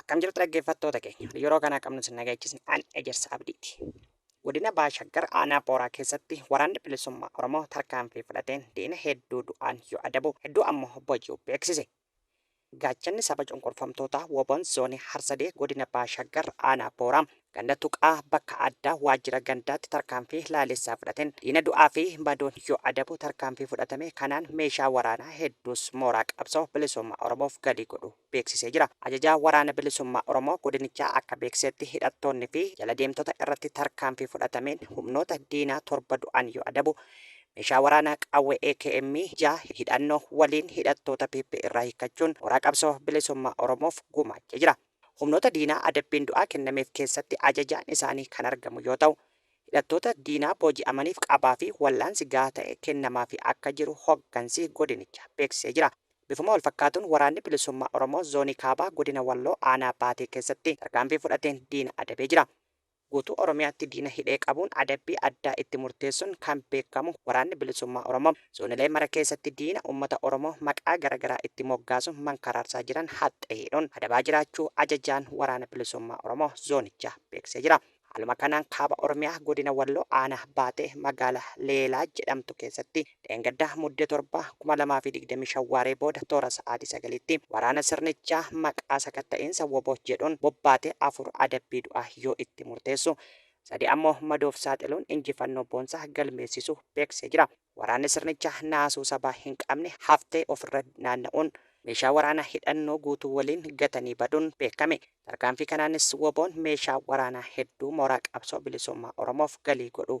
Akkam jirtu dhaggeeffattoota keenya. Yeroo kana qabnu sin nagaachisni an ejersa abdiiti. Godina Baashaggar aanaa Booraa keessatti waraanni bilisummaa Oromoo tarkaanfii fudhateen diina hedduu du'aan yoo adabu hedduu ammoo boji'u beeksise. Gaachanni Saba Cunqurfamtootaa wbon Zoonii Harsadee Godina Baha Shaggar Aanaa Booraa Ganda Tuqaa bakka addaa Waajjira Gandaatti tarkaanfii laaleessaa fudhateen diina du'aa fi madoon yoo adabu tarkaanfii fudhatame kanaan meeshaa waraanaa hedduus mooraa qabsoo bilisummaa Oromoof galii godhuu beeksisee jira. Ajajaa Waraana Bilisummaa Oromoo godinichaa akka beeksisetti hidhattoonni fi jala deemtota irratti tarkaanfii fudhatameen humnoota diinaa 7 du'an yoo adabu Meeshaa waraanaa qawwee akm 6 hidhannoo waliin hidhattoota PP irraa hiikkachuun mooraa qabsoo bilisummaa Oromoof gumaachee jira. Humnoota diinaa adabbiin du'aa kennameef keessatti ajajaan isaanii kan argamu yoo ta'u, hidhattoota diinaa booji'amaniif qabaa fi wal'aansi gahaa ta'e kennamaafii akka jiru hoggansi godinichaa beeksisee jira. Bifuma walfakkaatuun Waraanni Bilisummaa Oromoo Zoonii Kaabaa Godina Walloo Aanaa Baatee keessatti tarkaanfii fudhateen diina adabee jira. Guutuu Oromiyaatti diina hidhee qabuun adabbii addaa itti murteessuun kan beekamu Waraanni Bilisummaa Oromoo, zoonilee mara keessatti diina uummata Oromoo maqaa gara garaa itti moggaasuun mankaraarsaa jiran haxxee hidhuun adabaa jiraachuu Ajajaan Waraana Bilisummaa Oromoo zoonichaa beeksisee jira. Haaluma kanaan Kaaba Oromiyaa Godina Walloo Aanaa Baatee Magaala Leelaa jedhamtu keessatti Dheengadda Mudde 7, 2025 waaree booda toora sa'aatii 9tti waraana sirnichaa maqaa sakatta'iinsa wbo jedhuun bobbaate 4 adabbii du'aa yoo itti murteessu, 3 ammoo madoof saaxiluun injifannoo boonsaa galmeessisu beeksisee jira. Waraanni sirnichaa naasuu sabaa hin qabne haftee ofirra naanna'uun, meeshaa waraanaa hidhannoo guutuu waliin gatanii baduun beekame. Tarkaanfii kanaanis wbon meeshaa waraanaa hedduu mooraa qabsoo bilisummaa Oromoof galii godhuu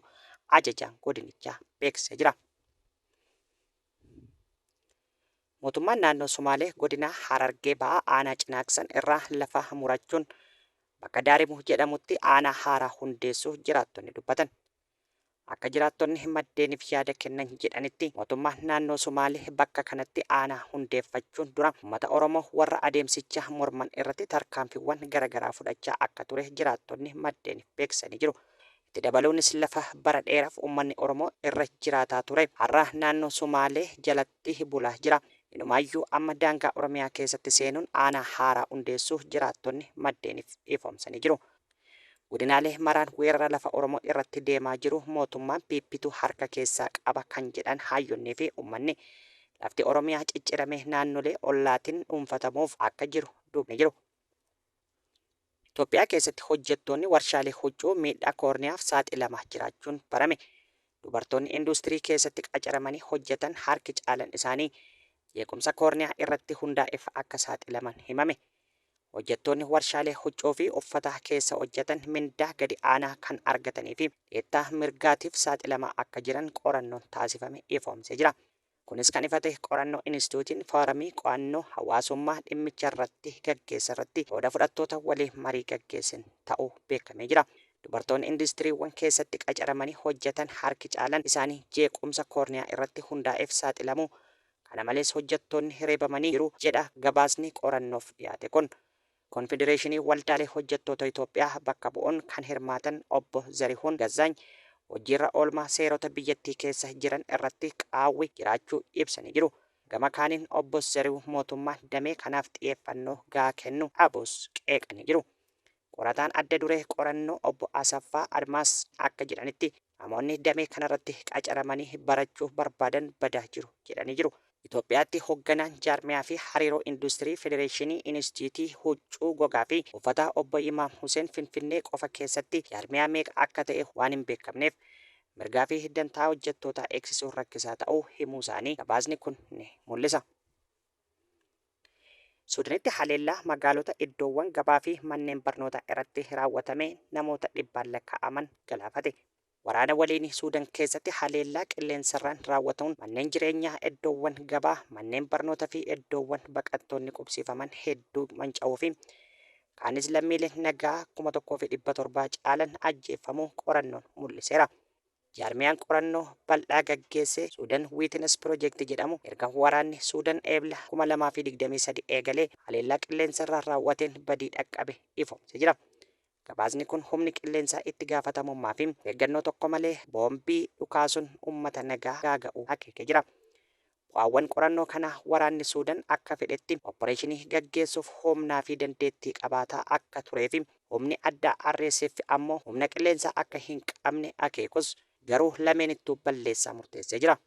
ajajaan godinichaa beeksisee jira. Mootummaan naannoo Somaalee godina Harargee Bahaa aanaa Cinaaksan irraa lafa murachuun bakka Daarimu jedhamutti aanaa haaraa hundeessuu jiraattonni dubbatan. Akka jiraattonni maddeenif yaada kennan jedhanitti, mootummaan naannoo Somaalee bakka kanatti aanaa hundeeffachuun dura ummata Oromoo warra adeemsicha morman irratti tarkaanfiwwan garagaraa fudhachaa akka ture jiraattonni maddeenif beeksisanii jiru. Itti dabaluunis lafa bara dheeraf ummanni Oromoo irra jiraataa ture har'a naannoo Somaalee jalatti bulaa jira. Inumaayyuu amma daangaa Oromiyaa keessatti seenuun aanaa haaraa hundeessuu jiraattonni maddeenif ifoomsanii jiru. Godinaalee maraan weerara lafa Oromoo irratti deemaa jiru mootummaan PPtu harka keessaa qaba kan jedhan haayyonnii fi ummanni, lafti Oromiyaa cicciramee naannolee ollaatin dhuunfatamuuf akka jiru duubni jiru. Itoophiyaa keessatti hojjettoonni warshaalee huccuu miidhaa koorniyaaf saaxilamaa jiraachuun barame. Dubartoonni induustirii keessatti qacaramanii hojjetan harki caalan isaanii jeequmsa koorniyaa irratti hundaa'eef akka saaxilaman himame. Hojjattoonni warshaalee huccuu fi uffataa keessa hojjatan mindaa gadi aanaa kan argatanii fi dhiittaa mirgaatiif saaxilamaa akka jiran qorannoon taasifame ifoomsee jira. Kunis kan ifa ta'e qorannoo Inistituutiin Fooramii Qo'annoo Hawaasummaa dhimmicharratti gaggeesserratti qooda fudhattoota waliin marii gaggeesseen ta'uu beekamee jira. Dubartoonni industiriiwwan keessatti qacaramanii hojjatan harki caalan isaanii jeequmsa koorniyaa irratti hundaa'eef saaxilamuu Kana malees hojjattoonni reebamanii jiru jedha gabaasni qorannoof dhiyaate kun. Konfedereeshinii Waldaalee Hojjattoota Itoophiyaa bakka bu'uun kan hirmaatan Obbo Zarihuun Gazzaany hojiirra oolmaa seerota biyyattii keessa jiran irratti qaawwi jiraachuu ibsanii jiru. Gama kaaniin Obbo Zarihuun mootummaan damee kanaaf xiyeeffannoo gahaa kennu dhabuus qeeqanii jiru. Qorataan adda duree qorannoo Obbo Asaffaa Admaas akka jedhanitti, Namoonni damee kanarratti qacaramanii barachuu barbaadan badaa jiru jedhanii jiru. Itoophiyaatti hogganaan jaarmiyaa fi hariiroo industirii Federeeshinii Inistiitii Huccuu Gogaa fi Uffataa Obbo Imaam Huseen Finfinnee qofa keessatti jaarmiyaa meeqa akka ta'e waan hin beekamneef mirgaa fi dantaa hojjettootaa eegsisuun rakkisaa ta'uu himuusaanii gabaasni kun ni mul'isa. Suudaanitti haleellaa magaalota, iddoowwan gabaa fi manneen barnootaa irratti raawwatame namoota dhibbaan lakkaa'aman galaafate. Waraana waliinii Suudaan keessatti haleellaa qilleensarraan raawwatamuun manneen jireenyaa, iddoowwan gabaa, manneen barnoota fi iddoowwan baqattoonni qubsiifaman hedduu manca'uu fi kaanis lammiileen nagaa 1,700 caalan ajjeeffamuu qorannoon mul'iseera. Jaarmiyaan qorannoo bal'aa gaggeesse Sudan Witness Project jedhamu erga waraanni Sudan Eebla 2023 eegalee haleellaa qilleensarraa raaw'ateen badii dhaqqabe ifoomse jira. Gabaasni kun humni qilleensaa itti gaafatamummaa fi of eeggannoo tokko malee boombii dhukaasun ummata nagaa gaaga'uu akeeke jira. Bu'aawwan qorannoo kanaa waraanni Suudan akka fedhetti oppareeshinii gaggeessuuf humnaa fi dandeettii qabaataa akka turee fi humni addaa RSF ammoo humna qilleensaa akka hin qabne akeekus, garuu lameenittuu balleessaa murteessee jira.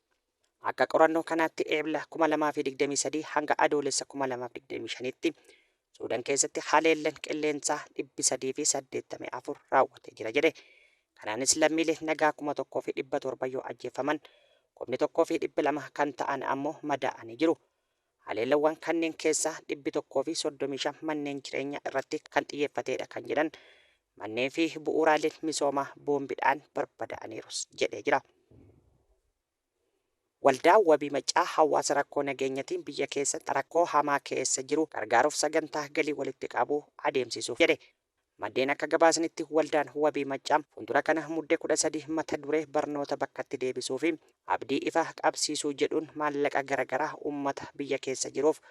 Akka qorannoo kanaatti Eebla 2023 hanga Adoolessa 2025tti Suudan keessatti haleellan qilleensaa 384 raawwatee jira jedhe. Kanaanis lammiilee nagaa 1,700 yoo ajjeeffaman, 1,200 kan ta'an ammoo madaa'anii jiru. Haleellawwan kanneen keessaa 135 manneen jireenyaa irratti kan xiyyeeffateedha kan jedhan manneen fi bu'uuraaleen misoomaa boombidhaan barbadaa'aniirus jedhee jira. Waldaan Wabii Maccaa hawaasa rakkoo nageenyatiin biyya keessatti rakkoo hamaa keessa jiru gargaaruuf sagantaa galii walitti qabu adeemsisuuf jedhe. Maddeen akka gabaasanitti Waldaan Wabii Maccaa fuuldura kana Mudde 13 mata duree Barnoota Bakkatti Deebisuu fi Abdii Ifaa Qabsiisuu jedhuun maallaqa gara garaa uummata biyya keessa jiruuf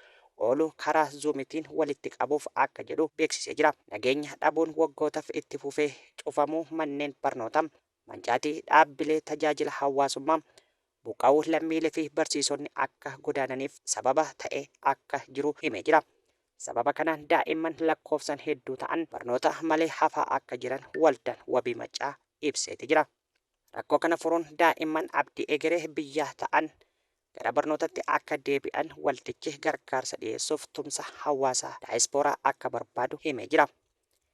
oolu karaa Zoom tiin walitti qabuuf akka jedhu beeksisee jira. Nageenya dhabuun waggootaf itti fufee cufamuu manneen barnootaa, Mancaatii dhaabbilee tajaajila hawaasummaa, buqqa'uu lammiilee fi barsiisonni akka godaananiif sababa ta'ee akka jiru himee jira. Sababa kanaan daa'imman lakkoofsaan hedduu ta'an barnoota malee hafaa akka jiran Waldaan Wabii Maccaa ibseeti jira. Rakkoo kana furuun daa'imman abdii egeree biyyaa ta'an gara barnootatti akka deebi'an waldichi gargaarsa dhiyeessuuf tumsa hawaasaa daayispooraa akka barbaadu himee jira.